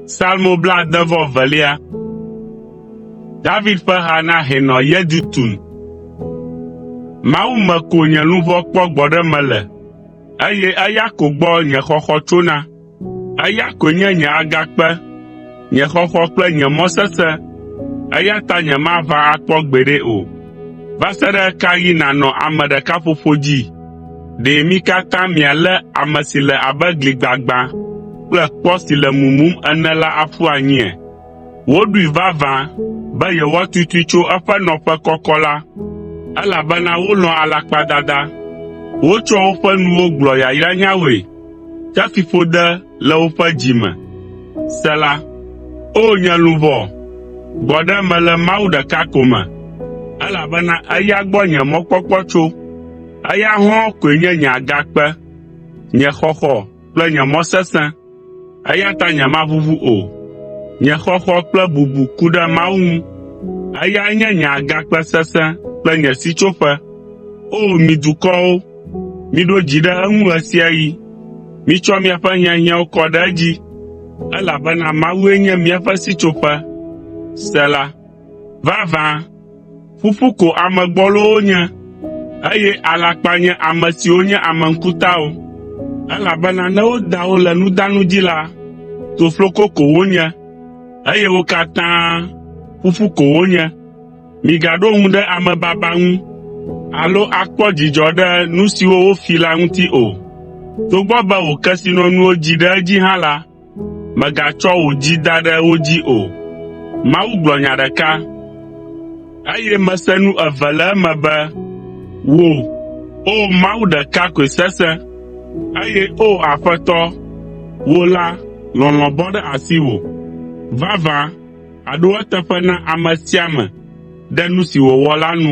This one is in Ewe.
Salmo blaade vɔ evelia. David ƒe ha na hɛnɔ Yedutun. Mawu me ko nye luʋɔ kpɔ gbɔɖeme le, eye eya ko gbɔ nye xɔxɔ tsona. Eya koe nye nye agakpe, nye xɔxɔ kple nye mɔ sesẽ, eya ta nyemaʋã akpɔ gbeɖe o. Va se ɖe ɣe ka ɣi nànɔ ame ɖeka ƒoƒo dzi? Ɖe mi katã mialé ame si le abe gli gbagbã kple kpɔ si le mumum ene la aƒu anyia? Woɖoe vavã be yewoatutui tso eƒe nɔƒe kɔkɔ la, elabena wolɔ̃a alakpadada. Wotsɔa woƒe nuwo gblɔa yayranyawoe Ke fiƒode le woƒe dzi me. Sela O nye luʋɔ, gbɔ ɖe eme le Mawu ɖeka ko me, Elabena eya gbɔ nye mɔkpɔkpɔ tso, Eya hɔ̃ koe nye nye agakpe, Nye xɔxɔ kple nye mɔ sesẽ, Eya ta nyemaʋuʋu o. Nye xɔxɔ kple bubu ku ɖe Mawu ŋu, Eyae nye nye agakpe sesẽ kple nye sitsoƒe. O mi dukɔwo, Miɖo dzi ɖe eŋu ɣesiaɣi. Mitsɔ miaƒe hiahiãwo kɔ ɖe edzi, elabena Mawue nye míaƒe sitsoƒe. Sela Vavã, ƒuƒu ko ame gbɔlowo nye, eye alakpa nye ame siwo nye ame ŋkutawo. Elabena ne woda wo le nudanu dzi la, tofloko ko wonye, eye wo katã ƒuƒu ko wonye. “Migaɖo ŋu ɖe amebaba ŋu alo akpɔ dzidzɔ ɖe nu siwo wofi la ŋuti o. Togbɔ be wò kesinɔnuwo dzi ɖe edzi hã la, mègatsɔ wò dzi da ɖe wo dzi o. Mawu gblɔ nya ɖeka, eye mese nu eve le eme be, ‘Wò, O Mawu ɖeka koe sesẽ, eye O Aƒetɔ, wò la, lɔlɔ̃ bɔ ɖe asiwò.’ ” Vavã. Aɖo eteƒe na ame sia ame ɖe nu si wòwɔ la nu.